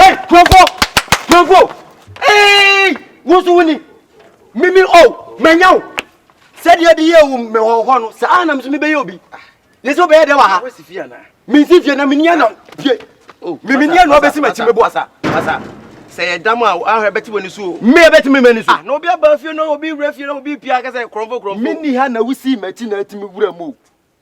Hey, Jumbo! Jumbo! Hey! Wo nso woni. Mimi o, oh, manya wo. Sɛdeɛ de yɛ wo me hɔ hɔ no, saa na me nso mebɛyɛ obi. Ne sɛ wobɛyɛ dɛ wɔ ha. Mensi fie na menia na fie. Oh, Mimi nia na ɔbɛsi m'akyi mebo. Masa, masa. Sɛ yɛ dam a ahwɛ bɛte w'ani so o. Me bɛte me m'ani so. Ah, na obi aba fie na obi wura fie na obi pia kasa krɔmfo krɔmfo. Mini ha na wosi m'akyi na atimi wura mu o.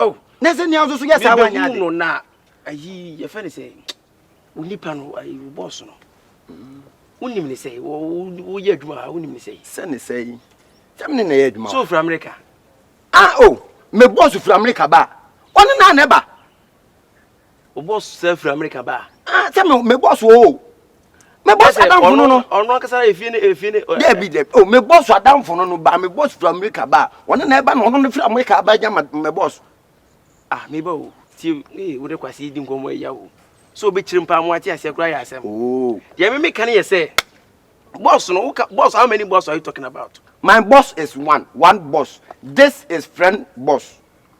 oh na sɛ nea nso so yɛ saa wanyɛ ade no na ayi yɛfɛ ne sɛ wo nipa no ayi wo bɔs no wonim ne sɛ woyɛ adwuma ha wonim ne sɛ sɛ ne sɛ yi sɛ mene na ɛyɛ adwuma so ofiri amerika ah o me bɔs ofiri amerika ba ɔne na na ɛba O bɔ sɛ firi Amerika ba. Ah, sɛ me me bɔ so o. Me bɔ so adamfo no no. Ɔno akasa efie ne efie ne. Dɛbi dɛ o me bɔ so adamfo no no ba me bɔ so firi Amerika ba. Ɔno na ɛba na ɔno no firi Amerika ba gya ma me bɔ so. Ah, me ba o. Ti ee wo de kwasi yi di nkɔmɔ ɛya o. So obi kyerɛ mpa mo ate aseɛ koraa yɛ asɛm. Oo. Deɛ me me ka ne yɛ sɛ boss no woka boss how many boss are you talking about? My boss is one, one boss. This is friend boss.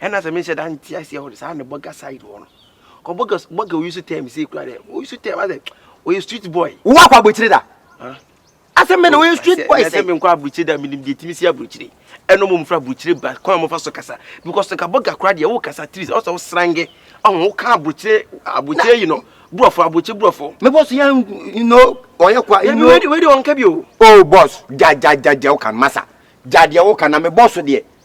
ɛna sɛ menhyɛ da nte aseɛ hɔ saa ne bɔga side hɔ no ɔbɔga bɔga oyi so tɛm sɛ kura dɛ oyi so tɛm asɛ ɔyɛ street boy wowɔ akɔ aburokyire da asɛm bɛ na wɔyɛ street boy sɛ menkɔ aburokyire da menim deɛ timi si aburokyire ɛno mo mfra aburokyire ba kwan mofa so kasa because nka bɔga kora deɛ wo kasa tiri sɛ ɔsɛ wo srange ɔho wo ka aburokyire aburokyire yi no borɔfo aburokyire borɔfo me bɔ so yɛ no ɔyɛ kwa ɛnu wei de wɔn ka bi o oh boss gya gya gya deɛ woka no masa gya deɛ woka na me bɔ so deɛ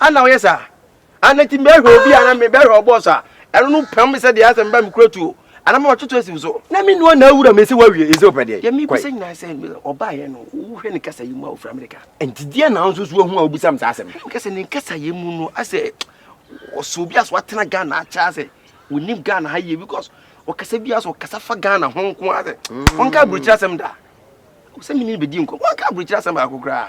A na ɔyɛ saa. A na nti mɛhwɛ obi a na me bɛhwɛ ɔbɔɔ so a ɛno no pam me sɛ deɛ asɛ meba me kura tuo a na mama toto asi wo so. Na me nua na awura me sɛ wawie nsɛ ɔpɛ deɛ. Deɛ me bisa nyinaa sɛ ɔbaeɛ no wo hwɛ ne kasa yɛ mu a ɔfiri Amerika. Nti deɛ na wo nso so ahu a wobisa me saa asɛm. Hwɛ me kasa ne kasa yɛ mu no asɛ ɔsɛ obi asɛ watena Ghana akyɛ asɛ ɔnim Ghana ha yie because ɔkasa bi asɛ ɔkasa fa Ghana ho nko asɛ ɔnka aburokyire asɛm da. Sɛ me ne no bɛdi nkɔm wanka aburokyire asɛm baako koraa.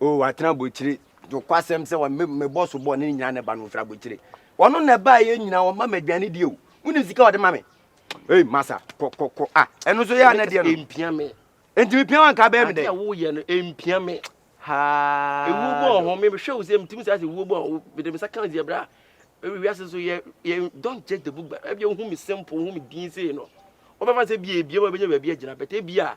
o watena abokyire nokwasɛm sɛ mebɔ so bɔ ne nyina ne ba no mfiri abokyire ɔno na ɛbaa yɛ nyina ɔma ma aduane die o wone sika ɔde ma me ei masa kɔkɔkɔ a ɛno nso yɛ anɛ deɛ no mpia me enti mepia wa nka bɛyɛ me dɛ woyɛ no mpia me ɛwuo bɔ ɔho mehwɛ wo sɛ metumi saa sɛ wuo bɔ ɔho mede me sa ka sɛ bra wiase so yɛ don't judge the book but ɛbia wohu me simple wohu me din sei no wobɛfa sɛ bia ebia ma bɛnya baabi agyina bɛtɛ bia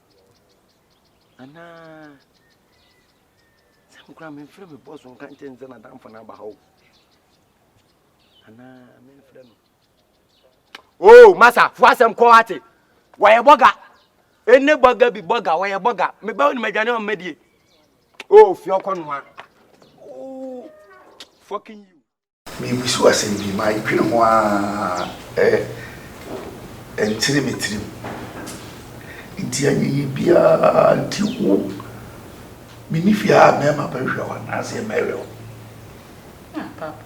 Anaa sɛ me koraa memfrɛ me bɔs nka nkyɛ ne sɛ n'adamfo no aba ha o anaa memfrɛ no o masa fo asɛm kɔ ate wɔyɛ bɔga ɛne bɔga bi bɔga wɔyɛ bɔga mebɛ wo ne madwane ɔmmadie o fie ɔkɔ noa o fucking you Merebisa wo asɛm bi, madwene ho ara ɛntene me tirim. Nti ayɛyie biara nti wo menni fie a mɛma bɛhwɛ hɔ anaasɛ mɛhwɛ hɔ? Ah, papa.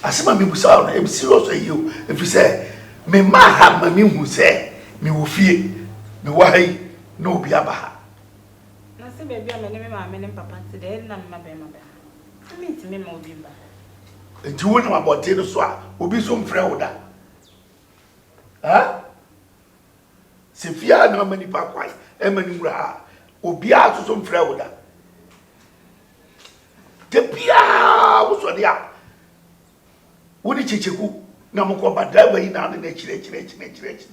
Asɛm a mebusa wo no, ɛm serious ayie o, ɛfiri sɛ mema ha ma mehu sɛ mewɔ fie, mewɔ ha yi na obi aba ha. Na sɛ baabi a me ne me maame ne me papa te dɛ, nna me mmabarima bɛma. Na minntumi mma obi mmba hɔ. Enti wonam abɔnten no so a, obi nso mfrɛ wo da? Ɛ? Sɛ fie a na ama nnipa kwan ma no wura ha a, obiara nso so mfrɛ wo da? Da biara wosɔre a, wo ne Kyekyeku na mokɔ ba, driver yi na ɔne no akyiri akyiri akyiri akyiri akyiri.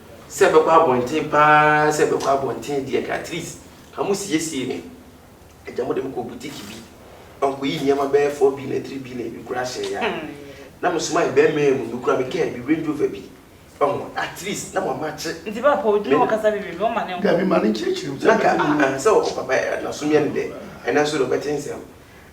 Sɛ ɛbɛkɔ abɔnten paa sɛ ɛbɛkɔ abɔnten deɛ nka at least nka mo siesie me agya mo de me kɔ boutique bi ɔnkɔ yi nneɛma bɛyɛ four billion three billion bi koraa hyɛ ya na mo soma yɛ bɛrima yɛ mu no kura me kaa bi range rover bi ɔho at least na mo ama kye nti ba pɔ odwuma ɔkasa bi bi bi ɔma ne nkɔ dabi ma ne nkyerɛkyerɛ mu sɛ nka sɛ ɔkɔ papa na so miɛ ne dɛ ɛnɛ nso de ɔbɛte nsɛm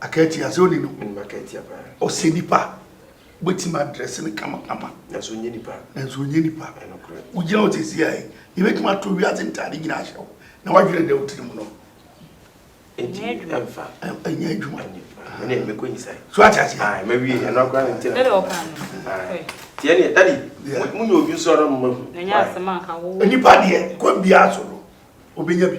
Akatia sɛ ɔni no. Menim akatia paa. Ɔsɛ nipa wobɛtumi adrɛse no kama kama. Nanso ɔnyɛ nipa. Nanso ɔnyɛ nipa. Ɛnokorɛ. Wogyina hɔ sɛsi a yi, yɛbɛtumi ato wiase ntaade nyina ahyɛ wo na woadwene dɛ wotiri mu no. Ɛnti ɛmfa. Ɛnyɛ adwuma. Ɛne mɛkɔ nyisae. So ate aseɛ. Ae, mɛwie ɛno akora ne ntina. Dɛde ɔka no. Ae. Tiɛ neɛ, dadi, monyɛ odwo so ara mma hu. Ɛnyɛ asɛm anka wo. Nipa deɛ, kwan biara so no, ɔbɛnya bi.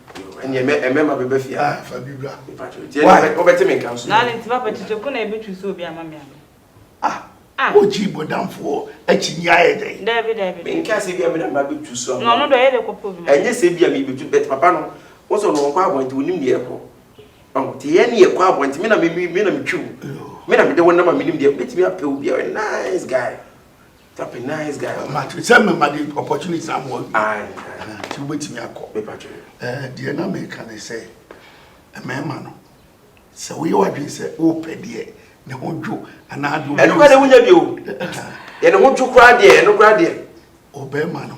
Ɛnneɛ mɛ ɛmɛma bɛba fie ha. Fa bi bra. Mepatwo. Nti ɛnneɛ wobɛte me nka nso. Na ne nti papa kyekye ko na ɛbɛtwi so obi ama me ano. Ah. Ah. Wogye bɔdamfoɔ akyi ni ayɛ dɛn? Daabi daabi. Menka sɛ bi a me na mba bɛtwi so ama. Na ɔno deɛ ɔyɛ dɛ kɔpɛ obi ma. Ɛnyɛ sɛ bi a me bɛtwi but papa no wo sɛ ɔno ɔnkɔ abɔn nti wonim deɛ ɛkɔ. Ɔho nti yɛ ne yɛkɔ abɔn nti me na me me na metwi wo. Me na mede wo nam a menim deɛ bɛtumi apɛ obi a ɔyɛ nice guy. Tap a nice guy. Ɔma atwere sɛ mɛma de opportunity ama wɔn. Nti wobɛtumi akɔ. Deɛ na meka ne sɛ mmarima no sɛ woyɛ w'adwene sɛ wopɛ deɛ ne ho dwo anaa deɛ ɛno kora deɛ wonya bio yɛ ne ho dwo koraa deɛ ɛno koraa deɛ ɔbɛrima no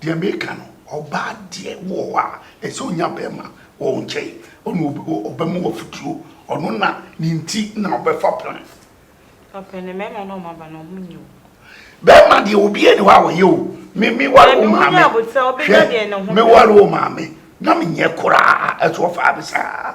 Deɛ meka no, ɔbaa deɛ wɔ hɔ a, ɛsɛ sɛ ɔnya barima wɔ wo nkyɛn, ɔne wo ɔbɛma wo afutuo, ɔno na ne nti na ɔbɛfa plan. Ɔpɛ no, mmarima no a wɔaba no, wɔn nyɛ o. Barima deɛ, obiara nni hɔ a ɔyɛ o, me me ware wo maame, hwɛ, me ware wo maame, na menyɛ koraa, ɛso ɔfaa me saa.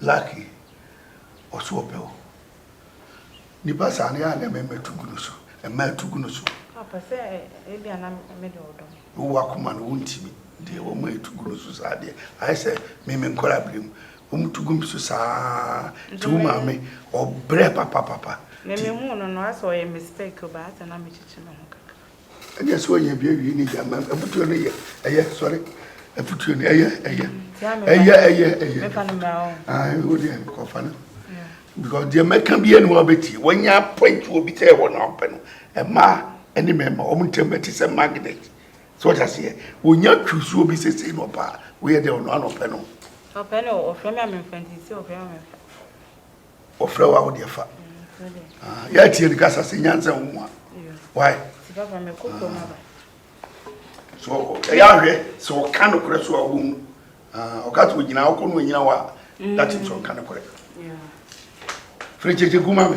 Lucky, ɔso ɔpɛ wo. Nipa saa no yɛ a na ɛma mmɛtu gu no so. Ɛma ɛtu gu no so. Ɔpɛ sɛ ebia na me de ɔdɔ me. Wowɔ akoma no wontumi. Deɛ wɔma ɛtu gu no so saa deɛ ayɛ sɛ me me nkwadaa bere mu. Wɔn tu gu me so saa ara. Nti wo maame ɔbrɛ papapapa. Me me huu no no asɛ ɔyɛ mistake o but asɛ na me kyekye me ho kakra. ɛnyɛ sɛ ɔyɛ bi awie ne gya man afutuo no yɛ ɛyɛ sɔre afutuo no ɛyɛ ɛyɛ ɛyɛ ɛyɛ ɛyɛ ɛwɔ deɛ kɔfa no because deɛ mɛka bi ɛne wɔbɛtie wɔnya point wɔ bi sɛ ɛwɔ na ɔpɛ no ɛmaa ɛne mɛma wɔn ntɛm bɛte sɛ magnet sɛ ɔte aseɛ wɔnya twusuo bi sɛ sei na ɔpɛ a woyɛ deɛ ɔno anɔpɛ no ɔpɛ no ɔfrɛ me a memfa nti sɛ ɔfrɛ me a memfa wɔfrɛ wo a wo deɛ fa ah, yɛatie ne kasa sɛ nyansa wo mu a wae so ɛyɛ ahwɛ sɛ ɔka nokorɛ so a wɔmu ah, ɔka sɛ ɔgyina wokɔ no ɔnyina wo a mm. that means ɔnka nokorɛ firi kyekye gu ma me